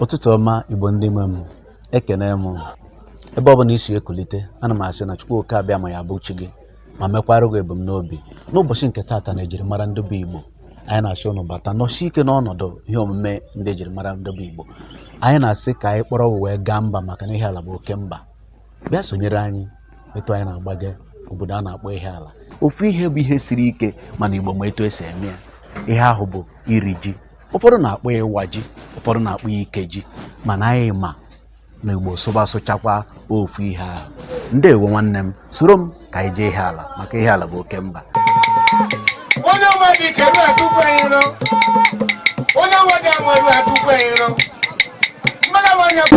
ụtụtụ ọma igbo ndị nwe m ekene m ebe ọ bụla i si ekulite ana m asị na chukwu oke abịama ya bụ chi gị ma mekwara gị ebumnobi n'ụbọchị nke taata na ejirimara ndị bụ igbo anyị na-asị ụnụ bata nọsi ike n'ọnọdụ ihe omume ndị ejirimara ndị bụ igbo anyị na-asị ka anyị kpọrọ ụwa wee gaa mba maka na ihiala bụ oke mba bịa sonyere anyị etu anyị na-agbaga obodo a na-akpọ ihiala ofu ihe bụ ihe siri ike mana igbo ma etu e si eme ya ihe ahụ bụ iri ji ụfọdụ na-akpọ ya ịwa ji ụfọdụ na-akpọ ya ike ji mana anyị ma na igbo sụba sụchakwa ofu ihe ahụ ndewo nwanne m soro m ka anyị jee ihiala maka ihiala bụ oke mba onye ọma dị ike ru atụkwa ya iro onye ọma dị anwụ eru atụkwa ya iro mmadụ nwanyị bụ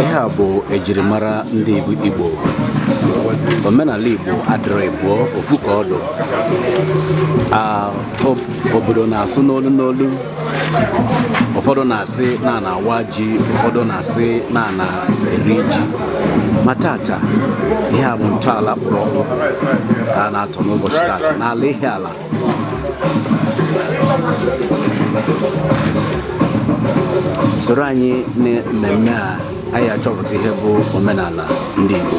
ihe a bụ ejirimara ndị Igbo omenala Igbo adịrọ ịbụọ ofu ka ọ dụ obodo na-asụ n'olu n'olu ụfọdụ na-asị na a na-awa ji ụfọdụ na-asị na a na-eri ji ma tata ihe a bụ ntọala kpụrụ ọkpụ ka a na-atọ n'ụbọchị tata n'ala Ihiala soro anyị na mmemme a anyị achọpụta ihe bụ omenala ndị Igbo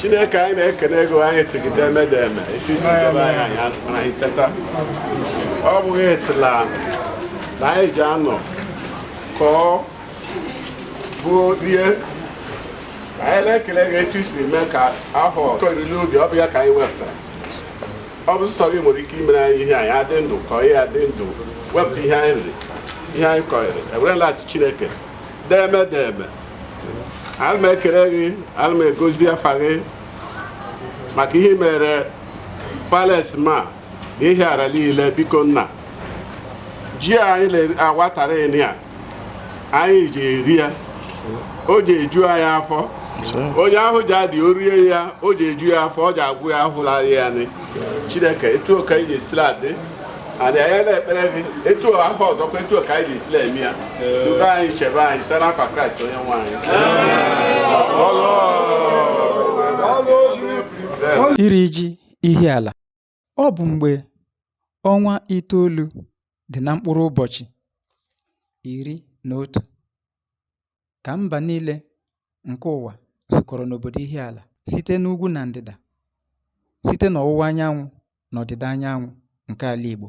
chineke anyị na-ekene gị o anyị sị gị deme deme etu i si debe anyị anyị mara anyị teta ọ bụghị esila na anyị ji anọ kọọ bụ rie anyị na-ekele gị etu i si mee ka ahụ oriri ubi ọ bụ ya ka anyị wepụtara ọ bụ sọ gị nwere ike imere anyị ihe anyị adị ndụ ka anyị adị ndụ wepụta ihe anyị riri ihe anyị kọnyere e werela sị chineke deme deme ana m ekele gị ana m egozi afa gị maka ihe i meere palace ma na ihiala niile biko nna ji anyị na-awatara ya anyị ji eri ya o ji eju anyị afọ onye ahụ ji adị orie ya o ji eju ya afọ ọ ji agwụ ya ahụla ya nị chineke etu ka anyị ji sila adị adị anyị na-ekpere gị etu ahụ ọzọkwa etu ka anyị ji sila eme ya dukọọ anyị chebe anyị site n'afa kraịst onye nwe anyị iri ji Ihiala Ọ bụ mgbe ọnwa itoolu dị na mkpụrụ ụbọchị iri na otu ka mba niile nke ụwa zukọrọ n'obodo Ihiala site n'ugwu na ndịda, site n'ọwụwa anyanwụ na ọdịda anyanwụ nke ala Igbo.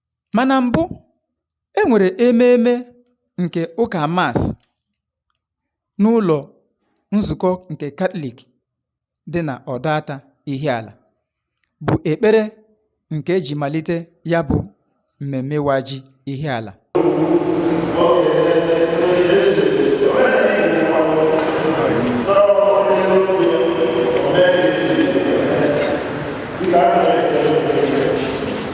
Ma na mbụ, e nwere ememe nke ụka mas n'ụlọ nzukọ nke Katọlik dị na Ọdọata Ihiala, bụ ekpere nke e ji malite ya bụ mmemme ịwa ji Ihiala.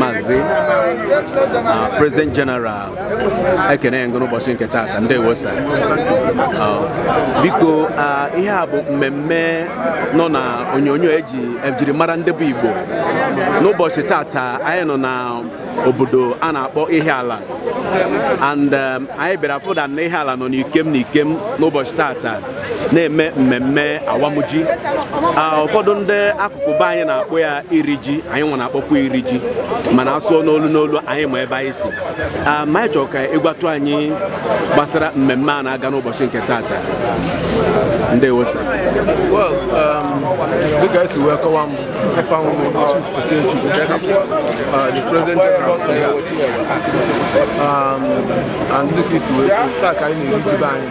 Mazi uh, President General ekene m gị o n'ụbọchị nke taata ndewo sa uh, biko uh, ihe a bụ mmemme nọ na onyonyo eji ejiri mara ndị bụ Igbo n'ụbọchị taata anyị nọ na obodo a na-akpọ Ihiala and um, anyị bịara fụda na Ihiala nọ n'ikem n'ikem n'ụbọchị taata na-eme mmemme awamji ụfọdụ ndị akụkụ be anyị na-akpọ ya iri ji anyị nwa na-akpọkwa iri ji mana asụọ n'olu n'olu anyị ma ebe anyị si ma anyị chọrọ ka ị gwatụ anyị gbasara mmemme a na-aga n'ụbọchị nke taata ndewo sa um, dịka i si wee kọwa m ife ahụ Chief Okechukwu uh, the President General um, and dịka i si wee taa ka anyị na-eri ji be anyị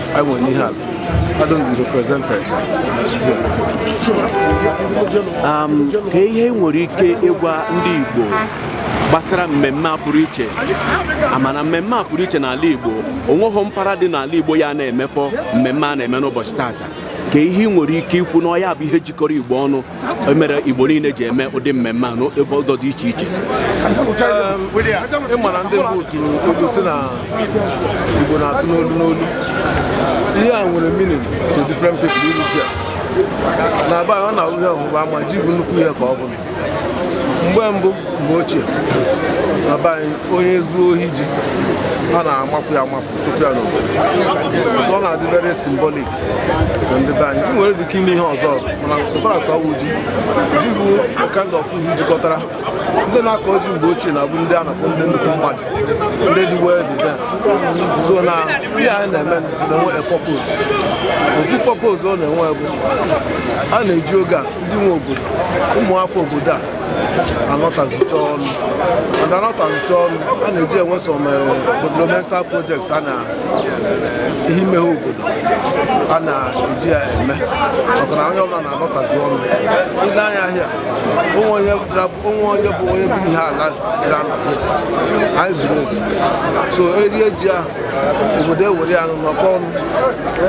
anyị nwere n'Ihiala are duly represented. Um, kee ihe i nwere ike ịgwa ndị Igbo gbasara mmemme a pụrụ iche a ma na mmemme a pụrụ iche n'ala Igbo o nweghị mpaghara dị n'ala Igbo ya na-emefọ mmemme a na-eme n'ụbọchị tata kee ihe i nwere ike ikwu na ọ ya bụ ihe jikọrọ Igbo ọnụ e mere Igbo niile ji eme ụdị mmemme a n'ebe ụzọ dị iche iche ị ma na ndị mbụ tụrụ ilu sị na Igbo na-asụ n'olu n'olu ihe a nwere meaning to different people iri ji na be anyị ọ na-awụ ihe ọgbụgba ama ji bụ nnukwu ihe ka ọ bụ na mgbe mbụ mgbe ochie na be anyị onye zuo ohi ji a na-amapụ ya amapụ chụpụ ya n'obodo so ọ na-adị very symbolic ndị be anyị nwere dị ike ime ihe ọzọ mana so far as ọ bụ ji ji bụ kind of ihe jikọtara ndị na-akọ ji mgbe ochie na-abụ ndị a na-akpọ ndị nnukwu mmadụ ndị dị wealthy then so na ihe anyị na-eme na-enwe a purpose ofu purpose ọ na-enwe bụ a na-eji oge a ndị nwe obodo ụmụafọ obodo a anọtazicha ọnụ and anọtazicha ọnụ a na-eji enwe some eh, developmental projects a na ihe imeghe obodo a na-eji ya eme maka na onye ọbụla na-alọtazi ọnụ ile anya ahịa o nwee onye dara- o nwee onye bụ onye bụ ihiala dara na ahịa anyị zuru ezu so erie ji ahụ obodo ewere ya nụ nọkọ ọnụ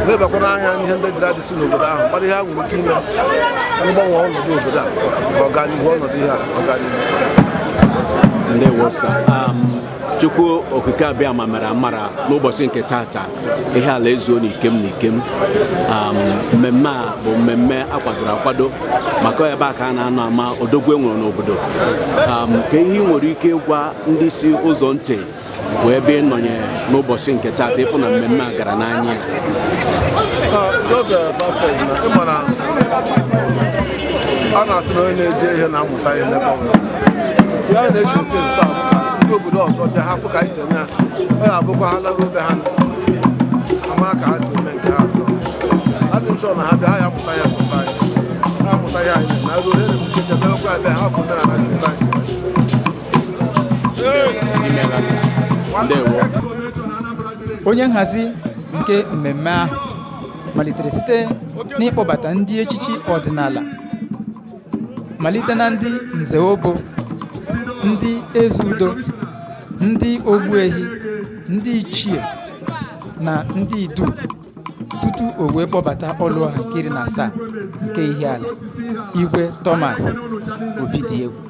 lebakwana anya n'ihe ndị dịra dịsị n'obodo ahụ mara ihe ha nwere ike ime gbanwee ọnọdụ obodo a ka ọ gaa n'ihu ọnọdụ ihe a ọ gaa n'ihu ndewo sir um, chukwu okike abịama mere amara n'ụbọchị nke tata ihiala ezuo n'ikem n'ikem mmemme a bụ mmemme a kwadoro akwado maka ebe a ka a na-anọ ama odogwu e nwere n'obodo kee ihe ị nwere ike ịgwa ndị si ụzọ ntị wee bịa ịnọnye n'ụbọchị nke tata ịfụ na mmemme a gara n'anya a na-asị na onye na-eje ije na obodo ọzọ bịa ha fụ ka anyị si eme ya ọ ya-abụkwa ha laruo be ha ama ka ha si eme nke ha atọ adị m ụsọ na ha bịa ha ya-amụta ya fụta anyị ha mụta ya anyị na ruo ere m nkecha bịakwa ebe ha bụ mere na si ta si onye nhazi nke mmemme ahụ malitere site n'ịkpọbata ndị echichi ọdịnala malite na ndị nze obu ndị eze udo ndị ogbuehi ndị ichie na ndị idu tutu o wee kpọbata ọlụọha nke iri na asaa nke ihiala igwe thomas obidiegwu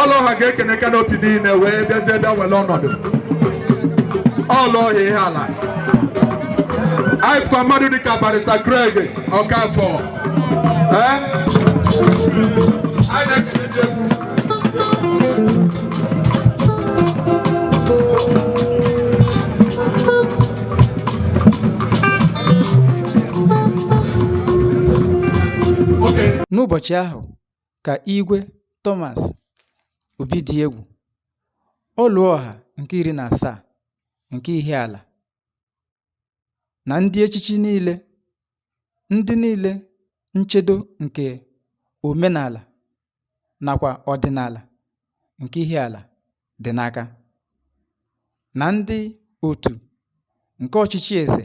ọlụọha ga-ekene kanopi niile wee bịazie bịa were ọnọdụ ọlụọha ihiala anyị fụkwa mmadụ dịka barrister Greg Ọkafọ ee anyị na-ekele ndị egwu Okay. n'ụbọchị ahụ ka Igwe Thomas Obidiegwu, Ọlụọha nke iri na asaa nke Ihiala, na ndị echichi niile, ndị niile nchedo nke omenala nakwa ọdịnala nke Ihiala dị n'aka, na ndị otu nke ọchịchị eze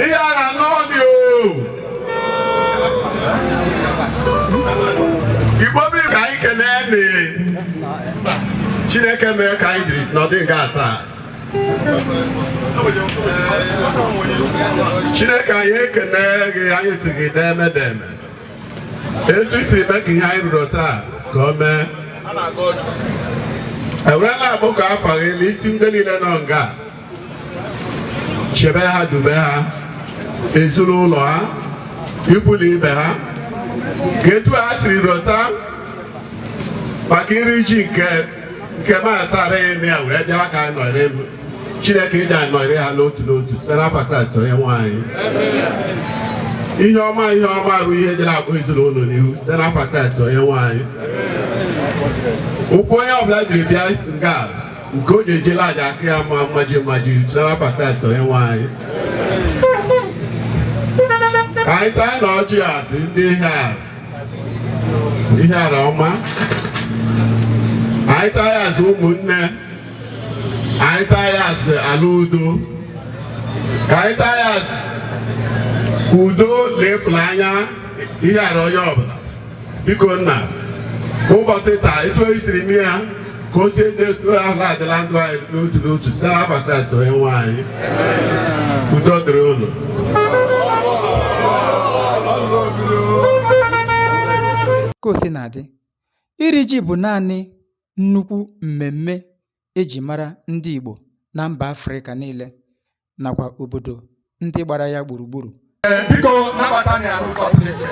Ihiala n'ọdị igbo bi ka anyị kenee na chineke mere ka anyị jiri nọdụ nga taa chineke anyị ekene gị anyị sị gị deme deme etu i siri mee ka ihe anyị rụrụ taa ka o mee ewerela abụ ka afa gị na isi ndị niile nọ nga chebe ha dube ha ezinụlọ ha ikwu na ibe ha ka etu ha siri rụta maka iri ji nke nke m atara eme ya were bịawa ka anyị nọrị m chineke ịdị anyị nọrị ha n'otu n'otu site n'afa Kraịst onye nwe anyị ihe ọma ihe ọma bụ ihe jere akpọ ezinụlọ n'ihu site n'afa Kraịst onye nwe anyị ụkwụ onye ọbụla jiri bịa nga nke o ji ejela aja aka ya ma mmaji mmaji site n'afa Kraịst onye nwe anyị ka anyị taa na ọjị asị ndị ihe a Ihiala ọma anyị taa ya asị ụmụnne anyị taa ya asị ala udo ka anyị taa ya asị udo na ịfụlanya Ihiala onye ọbụla biko nna ụbọchị taa etu o siri mee ya ka o sie dị etu ahụ adị la ndụ anyị n'otu n'otu site n'afa Kraịst onye nwe anyị udo dịrị unu ka o si na-adị iri ji bụ naanị nnukwu mmemme eji mara ndị Igbo na mba Afrịka niile nakwa obodo ndị gbara ya gburugburu biko nabata anyị arụ kọpụlechị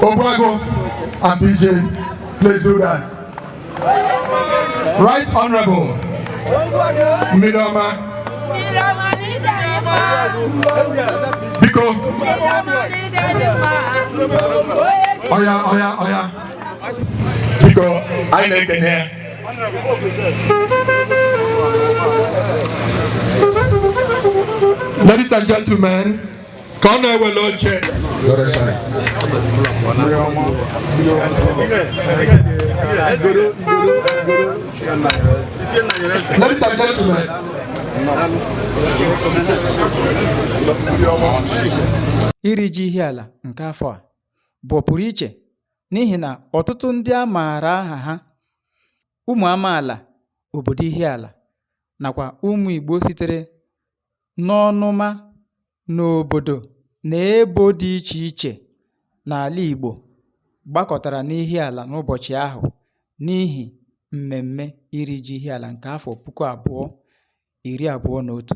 Ogbuagu and bj please do that right honorable mmiri ọma biko oya oya oya biko anyị na-ekene ya Ladies and gentlemen, ka ọ na-ewele oche Ladies and gentlemen, iri ji Ihiala nke afọ a bụ ọpụrụ iche n'ihi na ọtụtụ ndị a maara aha ha ụmụ amaala obodo Ihiala nakwa ụmụ Igbo sitere n'ọnụma n'obodo na ebo dị iche iche n'ala Igbo gbakọtara n'Ihiala n'ụbọchị ahụ n'ihi mmemme iri ji Ihiala nke afọ puku abụọ iri abụọ na otu.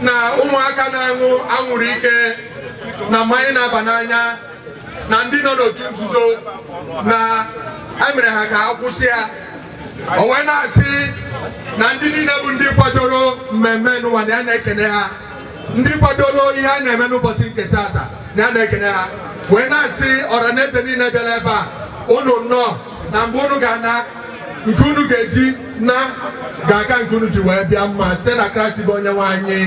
na ụmụaka na-aṅụ anwụrụ ike na mmanya na-aba n'anya na ndị nọ n'otu nzuzo na emere ha ka ha kwụsị ya o wee na-asị na ndị niile bụ ndị kwadoro mmemme nụwa na ya na-ekene ha ndị kwadoro ihe a na-eme n'ụbọchị nke taata na ya na-ekene ha wee na-asị ọra na eze niile bịara ebe a unu nnọọ na mgbe unu ga-ana nke unu ga-eji na ga-aka nke unu ji wee bịa mma site na kraịst bụ onye nwe anyị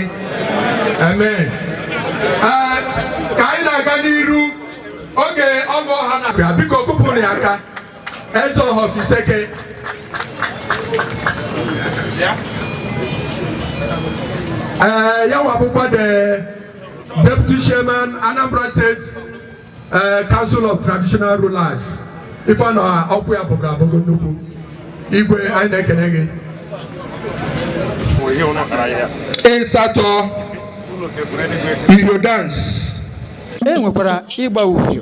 amen ka anyị na-aga n'iru oge ọgụ ọha na-abịa biko kụpụrụ ya aka Ezeọha of Isseke ee ya nwa bụkwa the deputy chairman Anambra State ee eh, Council of Traditional Rulers ife a na ọkụ ya bụgara abụgo nnukwu igwe anyị na-ekene gị ịsatọ iyo dance e nwekwara ịgba uhie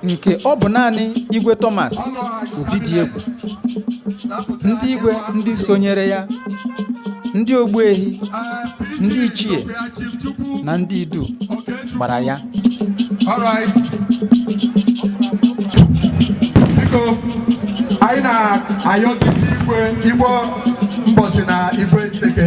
nke ọ bụ naanị igwe Thomas Obidiegwu ndị igwe ndị sonyere ya ndị ogbuehi ndị ichie na ndị idu gbara ya All right. Biko, anyị na-ayọzi igwe igbo Mbosi na igwe Nteje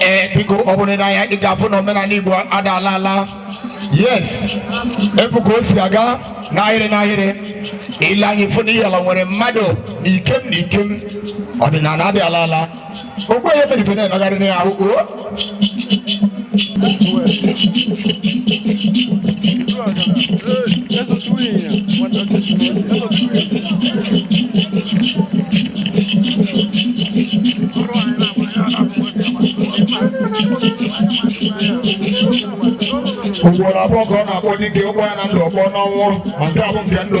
ee biko ọ bụrụ na ya ị ga-afụ na omenala igbo ada ala ala yes ị fụ ka o si aga n'ahịrị n'ahịrị i lee anya ị fụ na Ihiala nwere mmadụ na ikem na ikem ọdịnala adị ala ala Okwu onye fedebe na-emegharị na ya ahụ o. Ugboro abụọ ka ọ na-akpọ dike ọ kpọọ ya na ndụ ọ kpọọ n'ọnwụ ma nke ka bụ nke ndụ.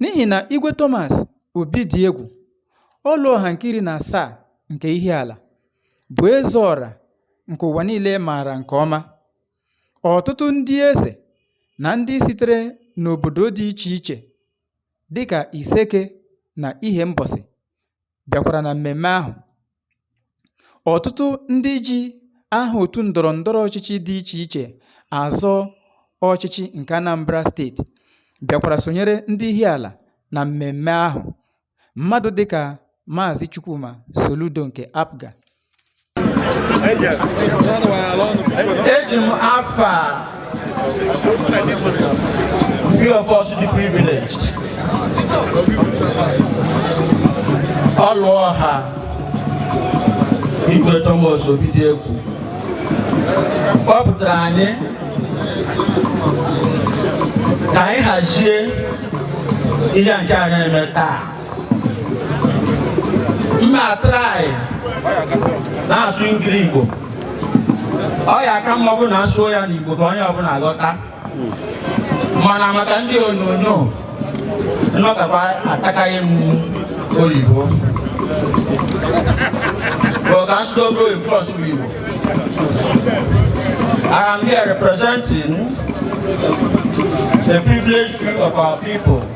N'ihi na Igwe Thomas Obidiegwu, Ọlụọha nke iri na asaa nke Ihiala, bụ eze ọra nke ụwa niile maara nke ọma. Ọtụtụ ndị eze na ndị sitere n'obodo dị iche iche dịka Iseke na Ihembọsị bịakwara na mmemme ahụ. Ọtụtụ ndị ji aha otu ndọrọ ndọrọ ọchịchị dị iche iche azọ ọchịchị nke Anambra steeti bịakwara sonyere ndị Ihiala na mmemme ahụ. Mmadụ dịka Maazị Chukwuma Soludo nke APGA eji m afa few of us dị privileged Ọlụọha Igwe Thomas Obidiegwu kpọpụtara anyị ka anyị hazie ihe nke a na-eme taa m ma-atraị na-asụ Ngili-Igbo ọ ya-aka mma ọ bụ na a sụọ ya n'Igbo ka onye ọbụla ghọta mana maka ndị onyonyo nnọkọta atakaghị m oyibo bụ ka asụsụ obi oyibo ọsụ bụ Igbo I am here representing the privileged few of our people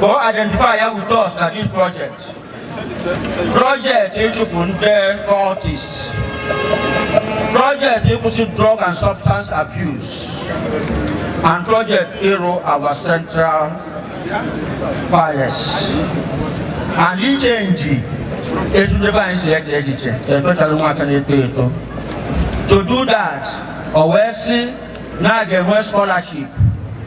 Go identify ya with us na this project. Project ịchụpụ ndị cultists. Project ịkwụsị drug and substance abuse. And project ịrụ our central palace. And ichenji etu ndị be anyị si eche echiche especially ụmụaka na-eto eto. To do that, o wee sị na a ga-enwe scholarship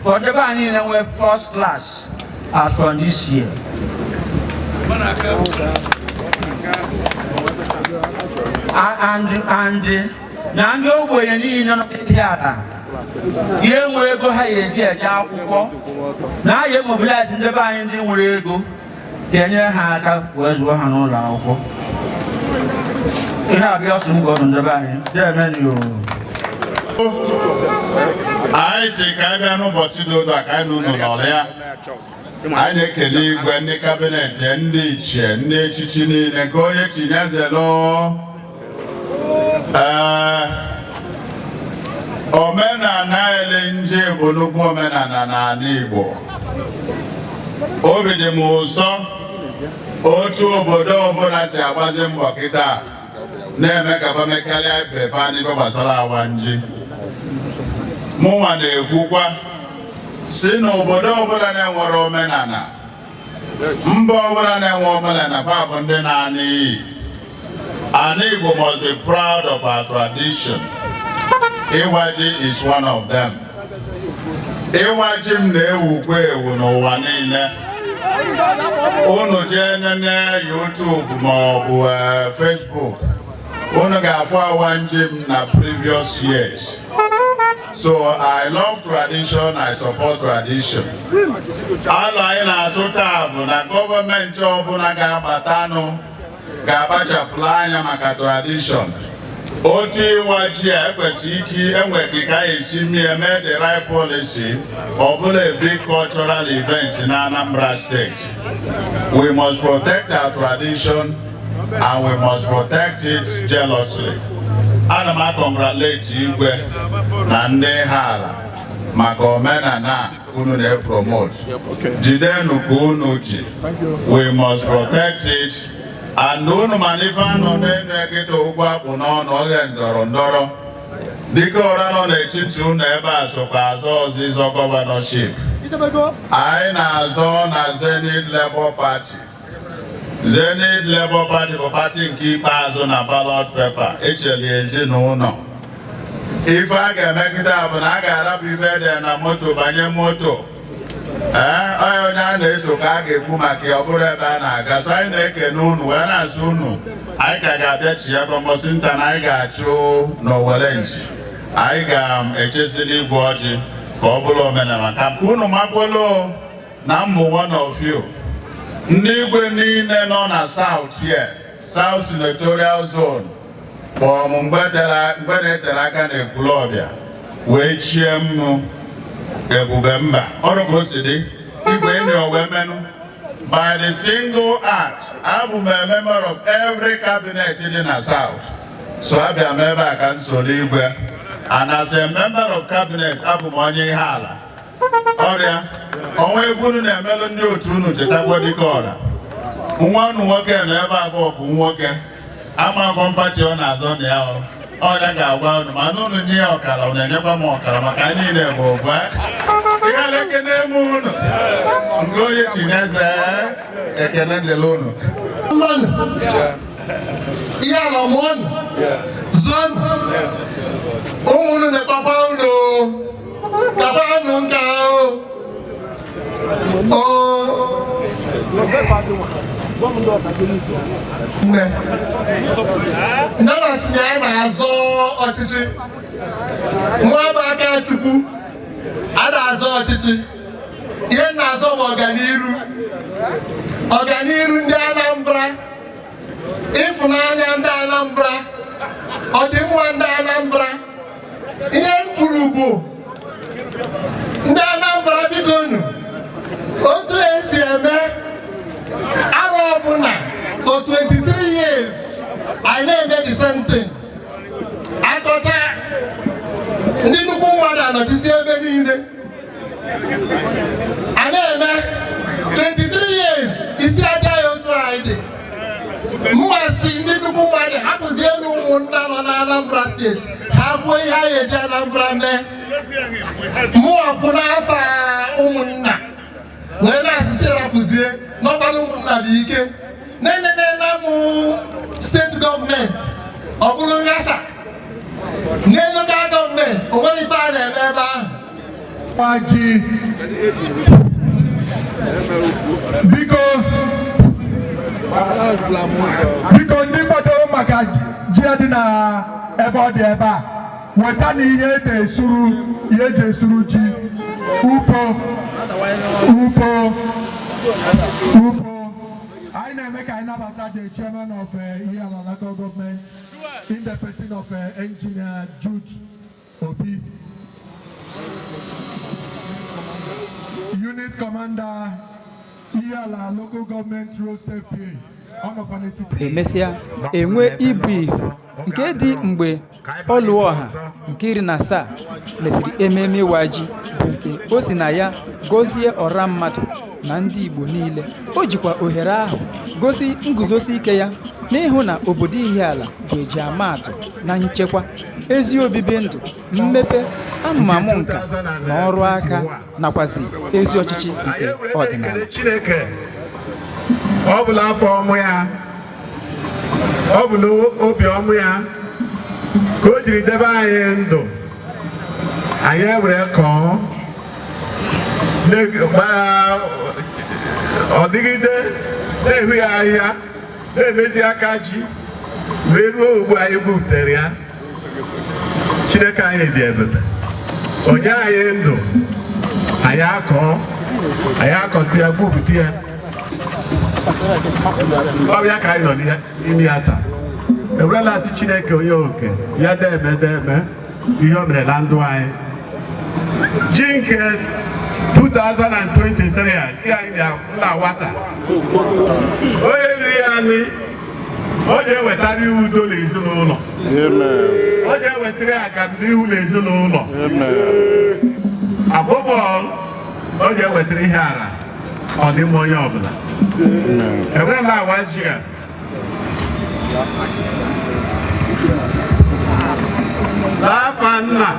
for ndị be anyị niile nwee first class as from this year. A- and and na ndị ogbenye niile nọ n'Ihiala enweghị ego ha ya-eji eje akwụkwọ na a ya-emobilize ndị be anyị ndị nwere ego ga-enyere ha aka wee zụọ ha n'ụlọ akwụkwọ ihe abịa ọsụ m gọdụ ndị be anyị deemeni o anyị sị ka anyị bịa n'ụbọchị dị otu a ka anyị na unu nọrịa anyị na-ekele igwe ndị kabinet ndị ichie ndị echichi niile nke onye chi nya zelu ee omenala elim ji bụ nnukwu omenala n'ala Igbo obi dị m ụsọ otu obodo ọbụla si agbazi mbọ kịta na-eme ka ba mekarịa ibe fa n'ife gbasara awam ji mụnwa na-ekwukwa sị na obodo ọbụla na-enwerọ omenala mba ọbụla na-enwerọ omenala fa bụ ndị na-ana iyi ana Igbo must be proud of our tradition ịwa ji is one of them ịwa ji m na-ewukwa ewu n'ụwa niile unu jee nene YouTube ma ọ bụ eh, Facebook unu ga-afụ awam ji m na previous years So I love tradition, I support tradition. Alo anyị na-atụ taa bụ na gọọmenti ọbụla ga-abatanụ ga-akpachapụla anya maka tradition. Otu ịwa ji a ekwesị ike enwe ka a ga-esi mie mee the right policy ọ bụlụ a big cultural event na Anambra State. We must protect our tradition and we must protect it jealously. Ana m acongratulate igwe na ndị Ihiala maka omenala unu na-epromote jidenụ ka unu ji we must protect it and unu ma na ife a nọ n'enu ya kịta okwu a kpụ n'ọnụ oge ndọrọ ndọrọ Dikeọra nọ n'etiti unu ebe a sokwa azọ ọzịzọ governorship anyị na-azọ na Zenith Labour Party Zenith Labour Party bụ pati nke ikpeazụ na ballot paper echeli ezinụlọ ife a ga-eme kịta bụ na a ga-arapụ ife e de na moto banye moto ee onye onye a na-eso ka a ga-ekwu maka ya ọ bụrụ ebe a na-aga so anyị na-ekene unu wee na-asị unu anyị ka ga-abịachiya ọ mbọsị nta na anyị ga-achụ n'owere nchi anyị ga-echezili igwe ọjị ka ọ bụrụ omenala ka unu makwolo na m bụ one of you ndị igwe niile nọ na South here South Senatorial Zone kpọọ m mgbe na-eterọ aka na Ekwulọbịa wee chie m nụ Ebube Mba ọrụ ka o si dị igwe ndị wee menụ by the single act abụ m a member of every cabinet dị na South so abịa m ebe a ka m soro igwe and as a member of cabinet abụ m onye Ihiala ọrịa o nwee ife unu na-emelụ ndị otu unu chetakwa Dikeọra nwa unu nwoke nọ ebe a bụ nwoke amakwa m pati ọ na-azọ na ya ọ bụ ya ga-agwa unu mana unu nye ya ọkara unu enyekwa m ọkara maka anyị niile bụ ofu Ihiala ekene m unu nke onye chi ya ze ekene dịrị unu Ihiala mụọnụ zụọnụ ụmụ unu na-ekpakwa unu kabanụ nke ahụ nne ndị na-asị na ya na-azọ ọchịchị Nwankpo Akachukwu a na-azọ ọchịchị ihe na-azọ bụ ọganiru ọganiru ndị Anambra ịfụnanya ndị Anambra ọdịmma ndị Anambra ihe m kwuru bụ ndị Anambra biko nu otu esi eme arọ ọbụla for 23 years anyị na-eme the same thing akọcha ndị nnukwu mmadụ anọchisi ebe niile a na-eme 23 years isi aja ya otu anyị dị mụwa sị ndị nnukwu mmadụ hapụzienụ ụmụnna nọ na Anambra steeti ha kwuo ihe anyị eji Anambra mee mụwa kwụ n'afa ụmụnna wee na-asị sị rapụzie n'ọkpara ụmụnna dị ike na-enene na mụ steeti gọọmenti ọ bụrụ nghasa na lokal gọọmenti o nwere ife a na-eme ebe ahụ gbaji biko biko ndị kwado maka ji dị na ebe ọ dị ebe a wetanụ ihe eji esuru ihe eji esuru ji upo upo upo anyị na-eme ka anyị nabata the chairman of eh, Ihiala local government in the person of eh, engineer Jude Obi unit commander Ihiala local government road safety ọ nọkwa n'etiti emesịa e nwee ibu ihu nke dị mgbe Ọlụọha nke iri na asaa mesịrị ememe ịwa ji bụ nke o si na ya gọzie ọra mmadụ na ndị Igbo niile. O jikwa ohere ahụ gosi nguzosi ike ya n'ịhụ na obodo Ihiala bụ eji amaatụ na nchekwa, ezi obibi ndụ, mmepe, amụmamụ nka na ọrụ aka. nakwazi ezi ọchịchị nke ọdịnala Chineke ọ bụ n'afọ ọma ya ọ bụ n'obi ọma ya ka o jiri debe anyị ndụ anyị ewere kọọ ọ dịgide na-ehu ya ahịhịa na-emezi aka ji wee ruo ugbu a anyị gwupụtara ya Chineke anyị dị ebube o nye anyị ndụ anyị akọọ anyị akọta ya gwupụta ya ọ ya ka anyị nọ n'ime ya taa e wee na-asị Chineke onye oke ya deme deme ihe o mere na ndụ anyị ji nke 2023 a nke anyị na-awa taa onye riri anyị ọ ga-ewetara ya udo n'ezinụlọ ọ ga-ewetara ya agamnihu n'ezinụlọ ọbụla ọ ga-ewetara Ihiala ọdịmma onye ọbụla e wee na-awa ji a n'afa nna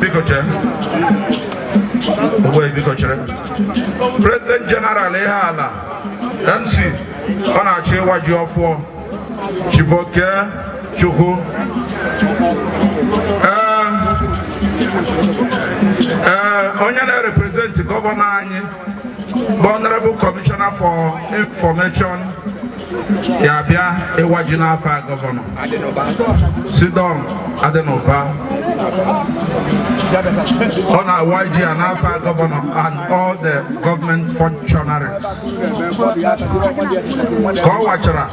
biko chere ogbe biko chere president general Ihiala mc ọ na-achọ ịwa ji ọfụọ Chief Okechukwu ee ee onye na-represent gọvanọ anyị bụ honorable commissioner for information ya bịa ịwa ji n'afa gọvanọ C. Don Adinuba ọ na-awa ji a n'afa gọvanọ and all the government functionaries ka ọ wachara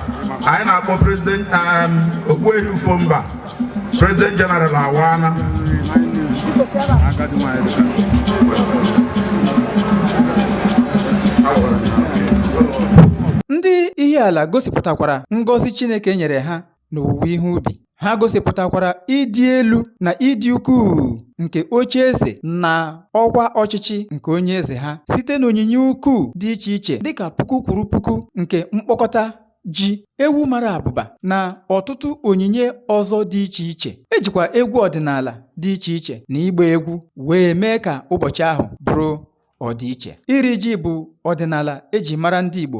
anyị na-akpọ prezident um, Ogbuehi Ufomba prezident jeneral awana ndị Ihiala gosipụtakwara ngọzi chineke nyere ha n'owuwe ihe ubi. Ha gosipụtakwara ịdị elu na ịdị ukwuu nke oche eze na ọkwa ọchịchị nke onye eze ha site n'onyinye ukwuu dị iche iche dịka puku kwuru puku nke mkpọkọta ji ewu mara abụba na ọtụtụ onyinye ọzọ dị iche iche ejikwa egwu ọdịnala dị iche iche na ịgba egwu wee mee ka ụbọchị ahụ bụrụ ọdịiche iri ji bụ ọdịnala eji mara ndị Igbo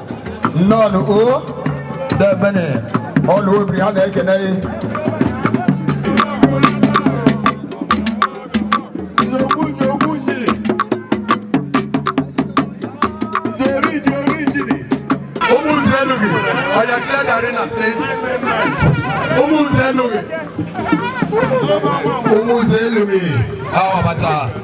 nnọọ o demenụ ọnụ obi ha na-ekene gị Umuze Louis, Awabata.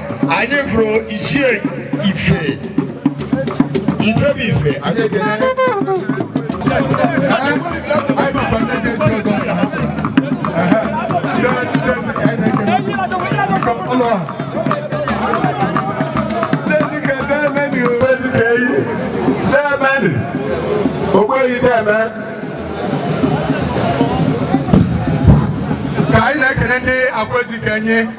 anyị fụrụ ichie ife ife bụ ife anyị ekele Ogbuehi deme ka anyị na-ekele ndị Akwaezikenyi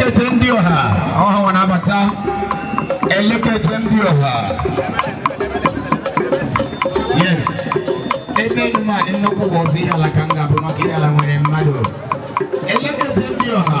Elekere ndị ọha ọhụrụ na-abata elekere ndị ọha yes ebe nma nnukwu bụ ọzọ Ihiala ka m ga-ebi maka Ihiala nwere mmadụ elekere ndị ọha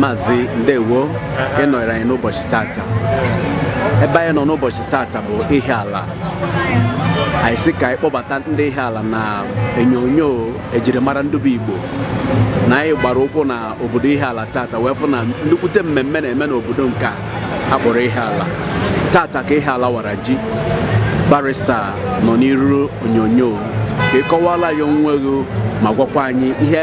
Maazị Ndewo ịnọnyere anyị n'ụbọchị tata ebe anyị nọ n'ụbọchị tata bụ Ihiala anyị sị ka anyị kpọbata ndị Ihiala na onyonyo ejirimara ndị bụ Igbo na anyị gbara ụkwụ na obodo Ihiala tata wee fụ na nnukwute mmemme na-eme n'obodo nke a kpọrọ Ihiala tata ka Ihiala wara ji barista nọ n'iru onyonyo ka ị kọwala anyị onwe gị ma gwakwa anyị ihe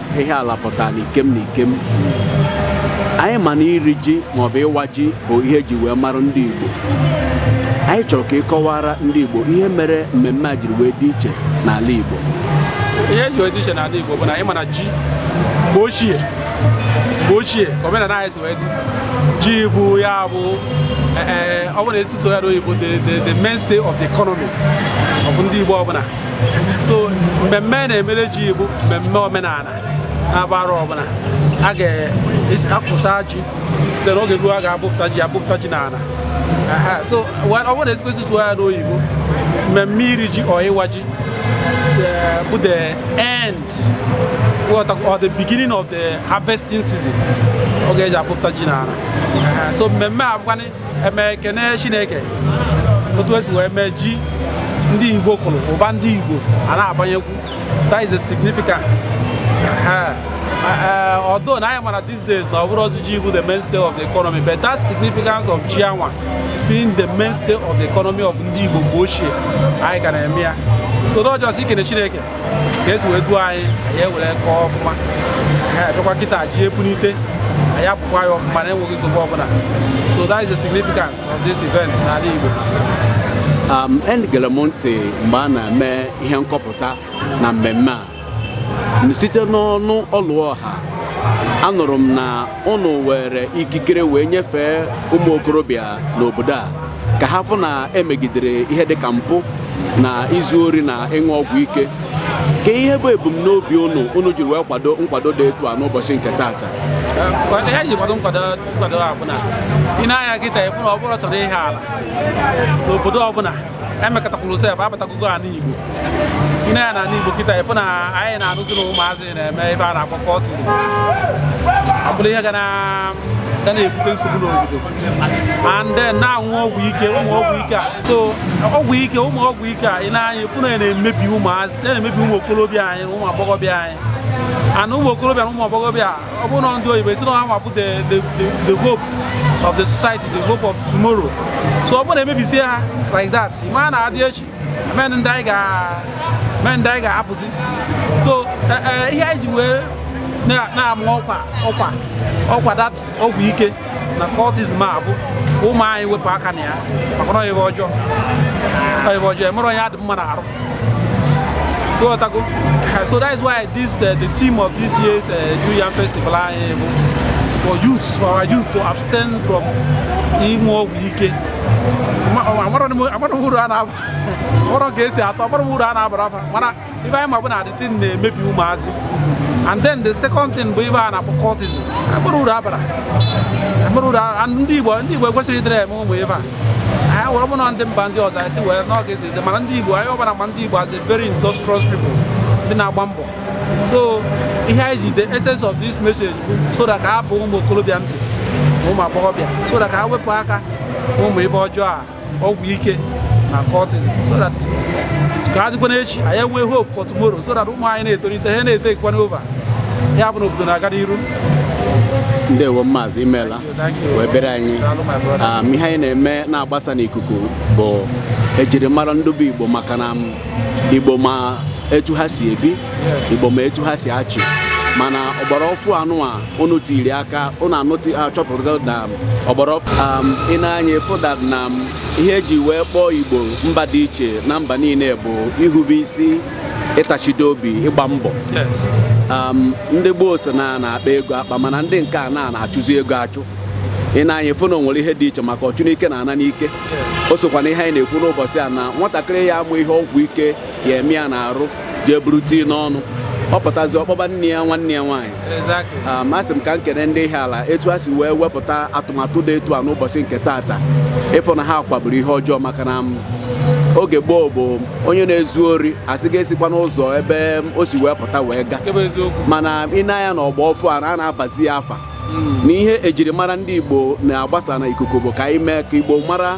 Ihiala pụtara n'ikem na ikem anyị ma na iri ji maọbụ ịwa ji bụ ihe eji wee mara ndị Igbo anyị chọrọ ka ịkọwara ndị Igbo ihe mere mmemme a jiri wee dị iche n'ala Igbo ihe eji wee dị iche n'ala Igbo bụ na anyị ma na ji mgbe ochie mgbe ochie ka omenala anyị si wee dị ji bụ ya bụ eh, eh, ọ bụ na esi sụọ ya n'oyibo the mainstay of the economy of ndị Igbo ọbụla so mmemme a na-emere ji bụ mmemme omenala na-agba arọ ọbụla a ga-akụsa ji then oge ruo a ga-abọpụta ji abọpụta ji n'ala so ọ bụrụ na a sịkwa sị tụọ ya n'oyibo mmemme iri ji or ịwa ji eh, bụ the end or the beginning of the harvesting season oge eji abọpụta ji n'ala so mmemme a bụkwanị eme ekene chineke otu esi wee mee ji ndị igbo kụrụ ụba ndị igbo a na-abanyekwu that is a significance although na anyị ma na these days na ọ bụrọzi ji bụ the mainstay of the economy but that significance of ji anwa being the mainstay of the economy of ndị igbo mgbe ochie anyị ka na-eme ya so not just ikene chineke ka esi wee duo anyị anyị ewere kọọ ọfụma a bịakwa kịta ji epunite anyị apụkwa ya ọfụma na enweghị nsogbu ọbụna so that is the significance of this event n'ala Igbo um, egere m ntị mgbe a na-eme ihe nkọpụta na mmemme a site n'ọnụ Ọlụọha anụrụ m na ụnụ were ikikere wee nyefee ụmụ okorobịa n'obodo a ka ha fụ na emegidere ihe dịka mpụ na izu ori na ịṅụ ọgwụ ike kee ihe bụ ebumnobi ụnụ ụnụ jiri wee kwado nkwado dị etu a n'ụbọchị nke taata ihe anyị ji kwado nkwado a bụ na i nee anya kịta ị fụ na ọ bụrọ sọ n'Ihiala n'obodo ọbụna emekọtakwuru sef abatagogo ala Igbo i nee anya n'ala Igbo kịta ị fụ na anyị na-anụzi na ụmụazị na-eme ife a na-akpọ cultism ọ bụrụ ihe ga na ga na-ebute nsogbu n'obodo and then na-aṅụ ọgwụ ike ụmụ ọgwụ ike a so ọgwụ ike ụmụ ọgwụ ike a i nee anya fụ na ya na-emebi ụmụazị na-emebi ụmụ okorobịa anyị na ụmụ agbọghọbịa anyị and ụmụ okorobịa na ụmụ agbọghọbịa ọ bụrụ na ndị oyibo asị na ha nwa bụ the the the hope of the society the hope of tomorrow so ọ bụrụ na emebisie ha like that ị ma na a dị echi enwerọ ndị anyị ga enwerọ ndị anyị ga-ahapụzi so e, e, ihe anyị ji wee na-ama ọkwa ọkwa ọkwa that ọgwụ ike na cultism a bụ ụmụ anyị wepụ aka na ya maka na ọ ihe ọjọọ ọ ihe ọjọọ enwerọ onye ọ dị mma n'arụ Ị ghọtago. So that is why this uh, the theme of this year's uh, New Yam Festival uh, for youths, for our youth to abstain from ịṅụ ọgwụ ike. Amarọ m uru ọ na-aba, amarọ ka o si atọ, amarọ m uru ọ na-abara fa, mana ife anyị ma bụ na the thing na-emebi ụmụazị. And then the second thing bụ ife a na-akpọ cultism, amarọ uru ọ bara. Amarọ uru ndị Igbo ndị Igbo ekwesịrọ ịdịrị eme ụmụ ife a. Anyị were mụ na ndị mba ndị ọzọ anyị si were n'oge mana ndị Igbo anyị ọ bụ na a ma ndị Igbo as a very industrious people ndị na-agba mbọ so ihe anyị ji the essence of this message bụ so that ka ọ baa ụmụ okorobịa ntị na ụmụ agbọghọbịa so that ka ha wepụ aka ụmụ ife ọjọọ a ọgwụ ike na cultism so that ka a dịkwanụ echi anyị enwee hope for tomorrow so that ụmụ anyị na-etolite ha na-etekwanụ over ya bụ na obodo na-aga n'iru ndewo maazị imeela wee bịara anyị ah, ihe anyị na-eme na-agbasa n'ikuku bụ ejirimara ndị bụ Igbo maka na Igbo ma etu ha si ebi Igbo ma etu ha si achị mana ọgbara ọfụụ anụwa unu tiri aka unu anụtụ achọpụta na ọgbara ọfụụ um, i nee anya fụda na um, ihe eji wee kpọọ Igbo mba dị iche na mba niile bụ ihube isi ịtachide obi ịgba mbọ um, ndị gboo sị na a na-akpa ego akpa mana ndị nke a na-achụzi ego achụ i nee anya ị fụ na o nwere ihe dị iche maka ọchụ n'ike na-ana n'ike o sokwa na ihe anyị na-ekwu n'ụbọchị a na nwatakịrị ya amụ ihe ọgwụ ike ya-eme ya n'arụ jee buru tii n'ọnụ ọ pụtazi ọ kpọba nne ya nwanne ya nwaanyị Ah, ma asị m ka m kene ndị Ihiala etu ha si wee wepụta atụmatụ dị etu a n'ụbọchị nke taata ịfụ na ha kagburu ihe ọjọọ maka na mm, oge gboo ọ bụ onye na-ezu ori a sị ga-esikwa n'ụzọ ebe mm, o si wee pụta wee gaa mana i nee anya na ọgba ọfụụ a a na-abazi ya afa hmm. na ihe ejirimara ndị Igbo na-agbasa n'ikuku bụ ka anyị mee ka Igbo mara